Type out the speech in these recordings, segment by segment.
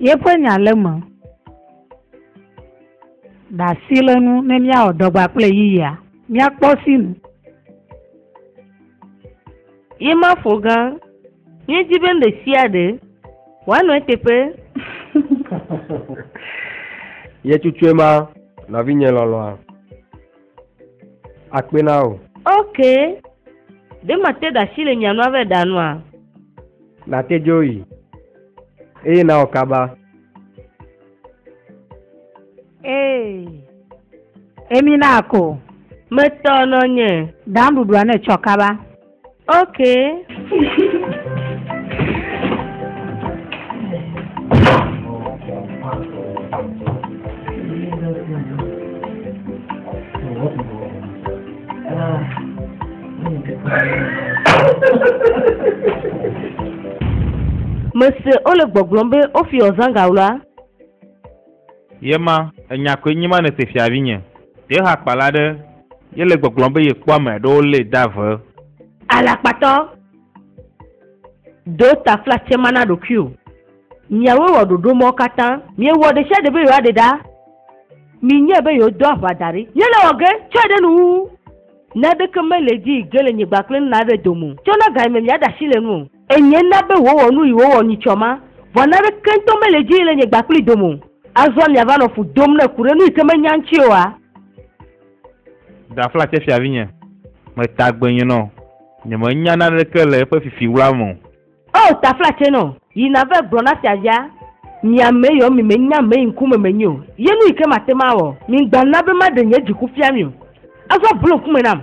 Yeƒe nya le eme. Ɖe asi le nu ne míawɔ dɔgba kple yiyia? Míakpɔ sinu. Ye mafo gã. Míedi be ɖesiaɖe wòanɔ eteƒe. Ye tsutsoe ma, nɔvinye lɔlɔ̃a. Akpe na wò. Ok. Ɖe mate da asi le mia nua vɛ ɖa nua? Nàte dzo yi, eye nawɔ kaba. Ee. Emi na ko. Metɔ nɔnye. Ɖa nuɖuɖua ne tsɔ kaba. Okay. Mese wole gbɔgblɔm be wofi ɔzangawla. Ye ma, enya koe nye ma nèse fia vinye. Ɖe hakpala aɖe ye le gbɔgblɔm be yekpɔ ame aɖewo lée de ave? Alakpatɔ, ɖo taflatse ma na ɖokuiwò. Miawoe wɔ ɖoɖo mawo katã. Miewɔ ɖesiaɖe be yewoaɖe ɖa. Minyae be yewodo aʋa da ɖi. Míele wɔ ge, tsɔe ɖe nu wu. Naneke mele dzi ge le nyigba kple nla aɖe dome o. Tsɔ na ga yi me miaɖe asi le enu o. Enye na be wòwɔ nu yi wòwɔ nyitsɔ ma, vɔ naneke ŋutɔ mele edzi yim le nye gba kplii dome o. Azɔ miava nɔ fu dom ne ku ɖe nu yi ke menya ŋuti oa? Ɖafla tsɛ fiavinye. Meta agbenye nɔ. Nyemenya naneke le eƒe fifi wla me o. Oo, ta fla tsɛ nɔ. Yi nave gblɔ na fiavia. Mi ame yɔ mi menya ame yi ŋkume menyi o. Ye nu yi ke mate ŋu awɔ. Migba na be maɖe nye dziku fia mi o. Azɔ blu ŋkume nam.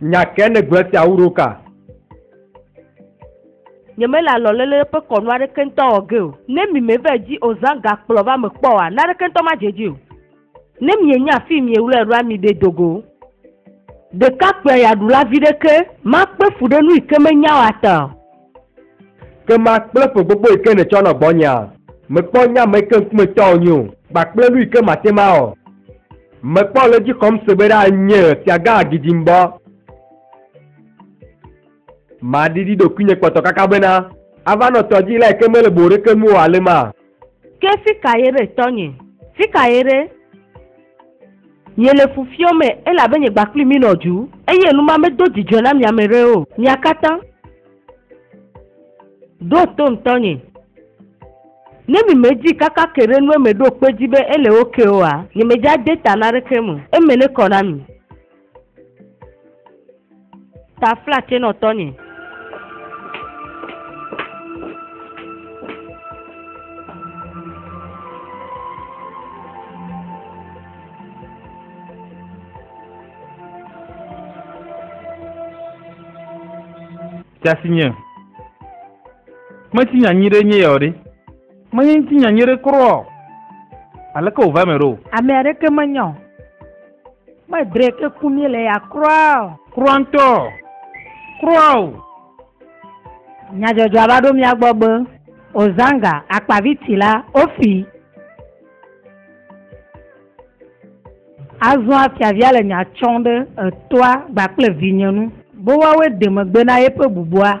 Nya kae nègblɔ esi awu ɖo ka? Nyemele alɔlele ƒe kɔnu aɖeke ŋutɔ wɔ ge o. Ne mime va edzi o zã gakplɔ va me kpɔ oa, naneke ŋutɔ madze edzi o. Ne mienya afii miewlɔe ɖoa, miɖee do go. Ɖekakpuiayaɖula viɖe ke, makpe fu ɖe nu yi ke menya o ata o. Ke ma kple ƒe gbogbo yi ke nètsɔ nɔ gbɔnyea? Mekpɔ nye ame yi ke ŋkume tɔ wònye o, kpakple nu yi ke mate ŋu awɔ. Mekpɔ le edzi xɔm se be ɖa nye fiagã agidimbɔ. Maɖiɖi ɖokuinye kpɔtɔkaka bena ava nɔ tɔdzilae yi ke mele boɖeke nu o alema? Ke fika ye ɖe tɔnye? Fika ye ɖe? Nye le fu fiɔ me elabe nye gba kpli mi nɔ dju, eye nu ma me do dzidzɔe na mia me ɖe o. Mia kata ɖo tom tɔnye. Ne mi me dzi kaka ke ɖe nue me ɖo kpe dzi be ele ok oa, nye me dza de ta na ɖeke me o. Eme ne kɔ na mi. Tafla tse nɔ tɔnye. Tasi nye. Mesi nyanyi ɖe nye yɔ ɖe. Menye ŋuti nyanyi ɖe kura o. Aleke wòva me ɖo? Ame aɖeke menya o. Kpɔe dre ke ku mí le ya kura o. Kura ŋutɔ o. Kura o. Nyadzɔdzɔa va ɖo mía gbɔ be, Ozanga, akpavici la, ofi! Azɔa fiavia le nya tsɔm ɖe etoa gba kple vinye nu. Bowawe de megbe na yeƒe bubua.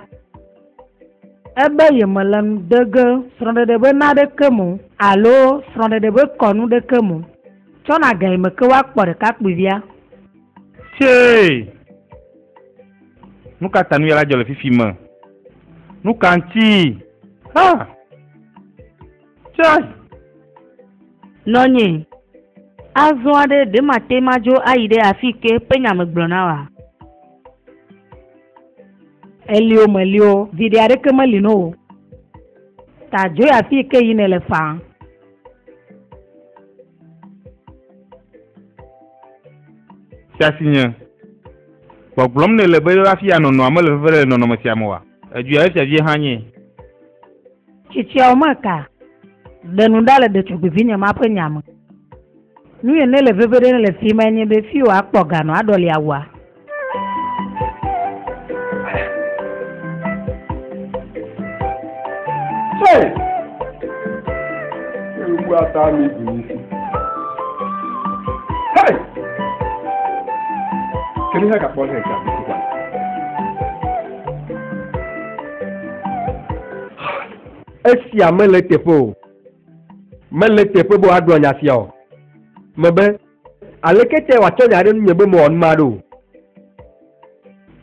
Ebe yemele nu de ge srɔ̃ɖeɖe be na ɖeke me o alo srɔ̃ɖeɖe be kɔnu ɖeke me o. Tsɔ nagae me ke woakpɔ ɖekakpuivia. Tsee! Nuka ta nuyala dzɔ le fifi me? Nuka ŋti? Ha! Tsee! Nɔnye, Azɔ aɖe ɖe mate madzo ayi ɖe afike ƒe nya megblɔna oa? Elio melio, viɖe aɖeke meli no o. Ta dzoe afi yi ke yi nèle faa. Sia si nye. Gbɔgblɔm nèle be yewoafia nɔnɔa mele veve ɖe le nɔnɔme sia me oa? Edzoea esia vie hã nye. Tsitsiawo meka ɖe nu ɖa le ɖetugbivinye ma ƒe nya me. Nu yi nele veviɖe le fi mae nye be fiyo akpɔ ga nɔ aɖɔli awua. Hey! Ewu ata mi du mi si. Hey! Kiri hɛ gakpɔ hɛ gakpɔ. Esia mele teƒe o. Mele teƒe be woagblɔ nya sia o. Mebe, aleke tae wòatsɔ nya ɖe nunye be mewɔ nu ma ɖo?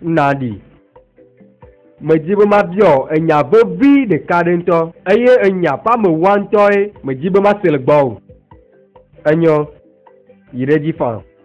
Na ɖi. Medi be mabiɔ enya vevi ɖeka ɖe ŋutɔ, eye enya ƒe amewoa ŋutɔe medi be mase le gbɔwò. Enyo, yi ɖe edzi faa.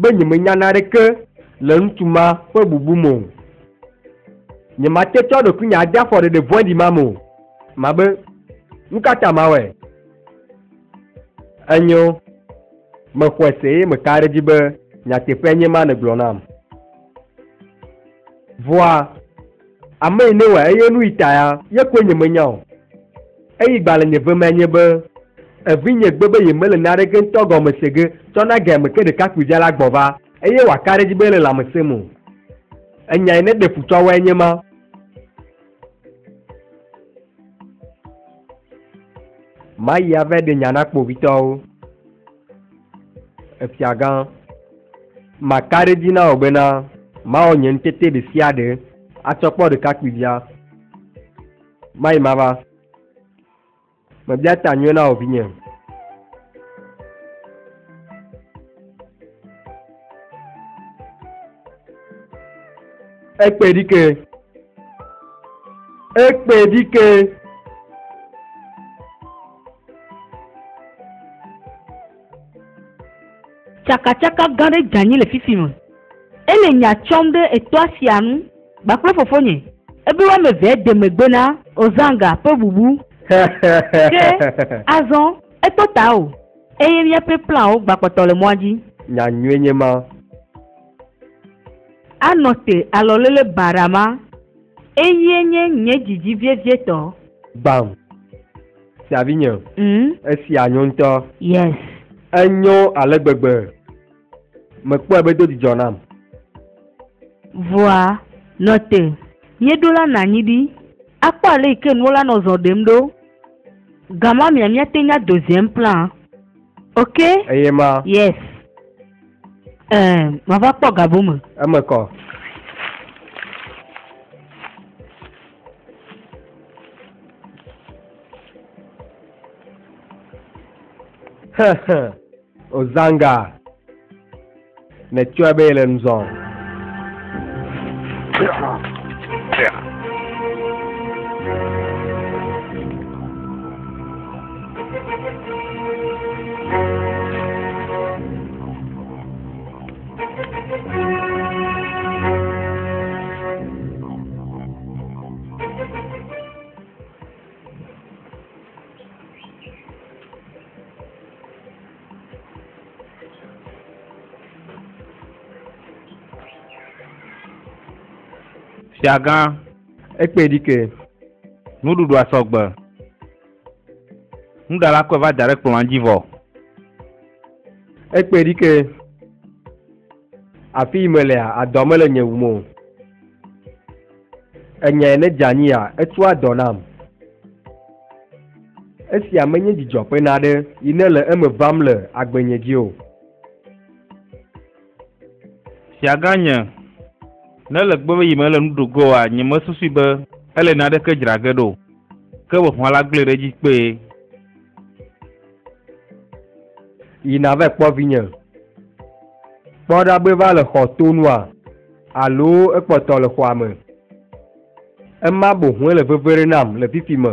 be nyemenya naneke le ŋutsu ma ƒe bubu me o. Nyemate tsɔ ɖokuinye ade afɔɖeɖe vɔ̃ɖi ma me o. Mabe, Nukata mawɔe? Enyo, mexɔe se eye meka ɖe edzi be nyateƒee nye ema nègblɔ nam. Vɔa, Ame yi newɔe eye nuyi taya ye koe nyemenya o. Eyi gba le nye vemea nye be, Evinye gbe be yemele naneke ŋutɔ gɔme se ge tsɔ na gea me ke ɖekakpuidzala gbɔva eye wòaka ɖe edzi be ele lãmesẽ me o. Enya yi neɖe fu tsɔ wɔe nye ma. Mayi ave ɖe nya na kpovitɔwo. Efiagã, maka ɖe edzi na wò bena mawɔ nye ŋutete ɖesiaɖe atsɔ kpɔ ɖekakpuivia. Mayi mava. Mebia ta nyuie na wò vinye. Ekpe ɖike. Ekpe ɖike. Tsakatsaka gã ɖe dza nyi le fifi me. Ele nya tsɔm ɖe etɔa sia nu kpakple fofonye. Ebe woamevea de megbe na Ozanga ƒe bubu. Ke azɔ, eto ta o, eye míaƒe planwo gbakpɔtɔ le mɔa dzi. Nya nyuie nye ma. Anɔ te alɔlele baɖa ma. Eyie nye nye dzidzi vievietɔ. Gbam. Sia vinye. Mm. Esia nyo ŋutɔ. Yes. Enyo ale gbegbe. Mekpɔe be do dzidzɔ nam. Vɔa, nɔ te. Míeɖo la nɔ anyi ɖi akpɔ ale yi ke nuwo la nɔ zɔ ɖem ɖo. Gamamea míate ŋu ado ziɛm plaa. Ok? Eye ma. Yes. Ɛɛ, mava kpɔ gabu me. Eme kɔ. Ozanga. Netsɔe be yele nu zɔm. Yeah. Fiagã, ekpe ɖi ke, nuɖuɖua sɔgbe. Nuɖala kɔe va da ɖe kplɔ̃a dzi vɔ. Ekpɔe ɖi ke, afi yi melea, adɔa mele nye wum o. Enyae ne dze anyia, etsɔa dɔ nam. Esia menye dzidzɔ ƒe naɖe yi nele eme vam le agbenye dzi o. Fiagã nye, ne le gbe be yi mele nu ɖo ge oa, nyemesusui be ele naneke dzra ge ɖo o, ke ʋeʋã la gblɔe ɖe edzi kpee. Yi nava kpɔ vinye. Kpɔ ɖa be eva le xɔ to nua, alo ekpɔtɔ le xɔa me. Ema boŋue le veve ɖe nam le fifi me.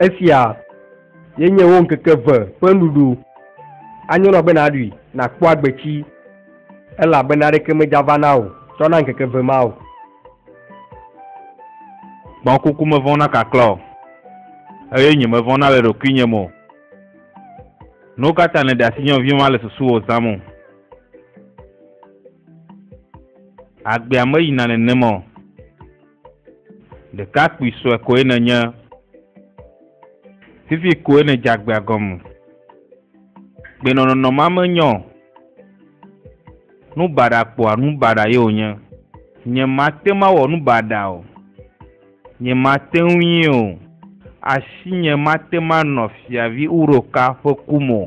Esia ye nye wo ŋkeke ve ƒe nuɖuɖu. Anyo na be nàɖui, nàkpɔ agbetsi, elabena aɖeke medzava na wò tsɔ na ŋkeke ve ma o. Kpɔ kuku mevɔ̃ na kaklã o, eye nyemevɔ̃ na le ɖokuinye me o. Nu ka ta nèɖe asi nye nɔvi ma le susuwò zãm o? Agbea meyina nenema o. Ɖekakpui sue koe nènye. Fifi koe nèdze agbea gɔme. Gbenɔnɔnɔ ma menyɔ o. Nu baɖa kpɔa nu baɖa ye wònye. Nyemate ŋu awɔ nu baɖa o. Nyemate ŋui o. Asinye mate ŋu anɔ Fiavi Uroka ƒe ku me o.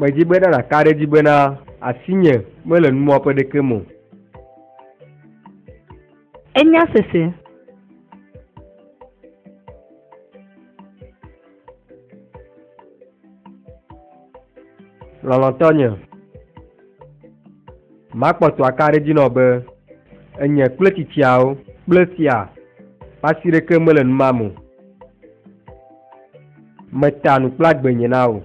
Medzi be na nàka ɖe edzi bena asinye mele numɔƒe ɖeke me o. Enya sese. Lɔlɔ̃tɔ nye, makpɔtɔ aka ɖe dzi nɔ be enye kple tsitsiawo kple fia ƒe asi ɖeke mele nu mam o. Meta nu kple agbe nye na wò.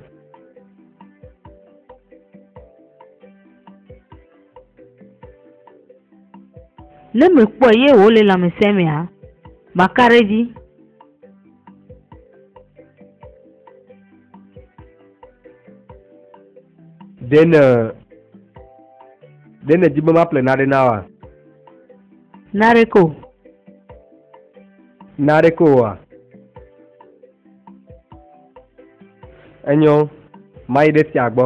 Ne mekpɔe ye wòle lãmesẽ mea, maka ɖe edzi. ɖe ne ɖe ne dzi be maƒle naɖe na wa naɖe ko naɖe ko wa enyo mayi ɖe fia gbɔ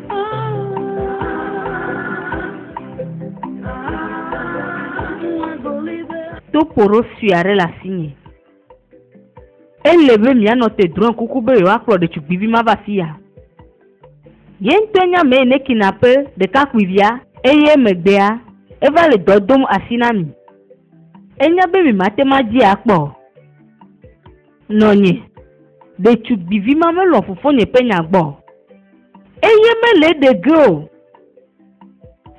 Topoɖo sue aɖe le asinye. Ele be mianɔ te drɔ̃e kuku be yewoakplɔ ɖetugbivi ma va afia. Ye ŋutɔe nye amee ne kinape ɖekakpuivia eye emegbea eva le dɔ dom asi na mi. Enya be mi mate ŋu adzii akpɔ o. Nɔnye, ɖetugbivi ma melɔ̃ fofonye ƒe nya gbɔ o, eye mele eɖe ge o.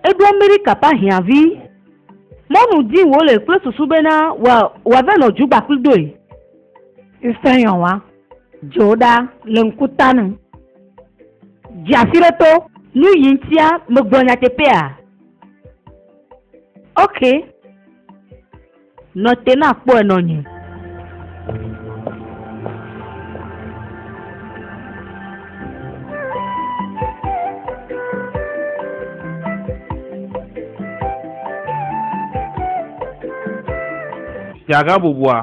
Eɖo Amerika ƒe ahiãvi mɔnu dim wòle kple susu bena wòava nɔ dzugba kpli doe. Ŋusẽyɔwa dzo ɖa le ŋku ta nu. Dzi asi ɖe to. Nu yi ŋutia megblɔ nyateƒea? Ok. Nɔ te na kpɔe nɔ nye. Miagabubua,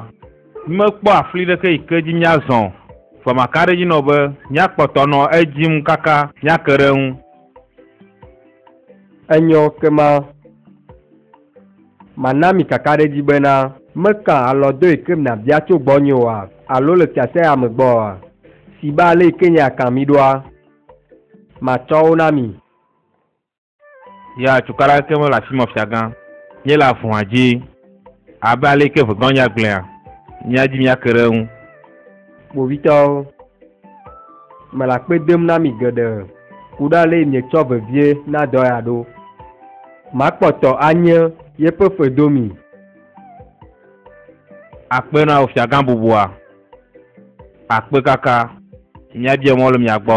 mímekpɔ afli ɖeke yi ke dzi míazɔ o, vɔ maka ɖe edzi nɔ be míakpɔtɔ nɔ edim kaka míake ɖe eŋu. Enyɔ ke ma. Mana mi kakaɖedzi bena. Meka alɔ do eke mna bia tso gbɔnye oa? Alo le fiasea me gbɔ oa? Si be ale eke nye aka mi ɖoa, matsɔ wo na mi. Ya cukaɖe aɖeke mele afi me, fiagã, nye le avuha dzi, abe ale eke ʋegɔ̃ nya gblɔea, mía dzi míake ɖe eŋu. Kpovitɔwo, mele akpe dem na mi geɖe ku ɖe ale yi mietsɔ vevie na dɔ ya ɖo. Makpɔtɔ anye yeƒe fe do mi. Akpe na wò fiagã bubua. Akpe kaka. Míabia mɔ le mia gbɔ.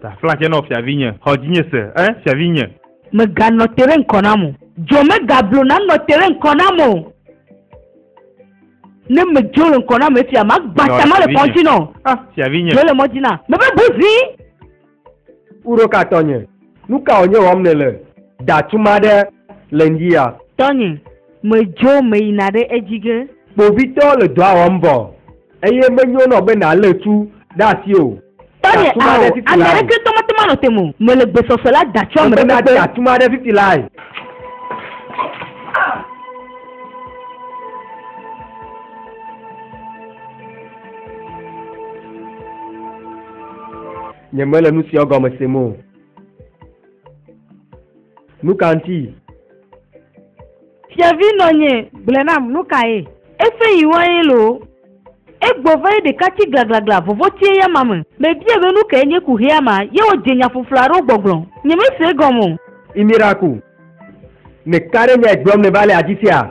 Tafla tsɛ nɔ fiavinye, xɔ dzinye se, ẽ, fiavinye. Mèganɔ te ɖe ŋkɔ nam o. Dzo megablo nanɔ te ɖe ŋkɔ nam o. Ne medzo le ŋkɔ nam efia, magbã ta male kɔn dzi nɔ. Ã, fiavinye. Dzo le mɔ dzi nam, mebe bu ʋĩ. Ku ɖo ka tɔnye? Nu ka wònye wɔm nèle? Da tsuma aɖe le ŋdi ya. Tɔnye, medzo meyina ɖe edzi ge. Kpovitɔwo le dɔa wɔm vɔ. Eye menyo nɔ be nàlé tu ɖe asi o. Tanye a o, ame aɖeke tɔ mate ŋu anɔ te me o. Mele gbe sɔsɔ la da tso ame ɖe megbe. Mena tu aɖe fifi lae. Nyemele nu siawo gɔme sem o. Nu ka ŋuti? Fiavi nɔ nye, gblɔe nam, nu kae? Efe yi wa ye loo. Egbɔ va ye ɖeka tsi glaglaglã vovo tsie ya ma me. Me bia be nu kae nye ku hea ma ye wo dze nya ƒuƒlu aɖewo gbɔgblɔ. Nye me se egɔme o. Imira ku. Me ka ɖe nyae gblɔm ne va le afi sia?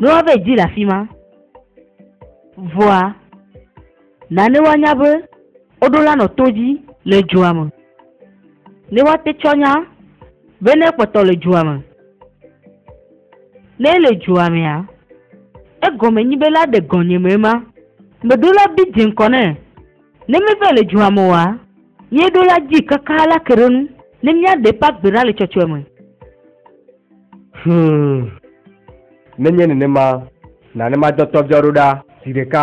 Mlɔ vɛ dzi le afi ma. Vɔa, nane woanya be woɖo la nɔ to dzi le dua me. Ne woate tsɔ nya be ne ekpɔtɔ le dua me. Ne ele dua mea, egɔme nyi be la ɖe gɔnye me ema. Meɖo la bi dze ŋkɔ nɛ. Ne meva le dua me oa, míeɖo la dzi kakaa la ke ɖe nu ne míaɖe eƒe agbe ɖa le tsɔtsɔe me. Hum, nenye nenema, na ne madɔ tɔviawo ɖo ɖa zi ɖeka.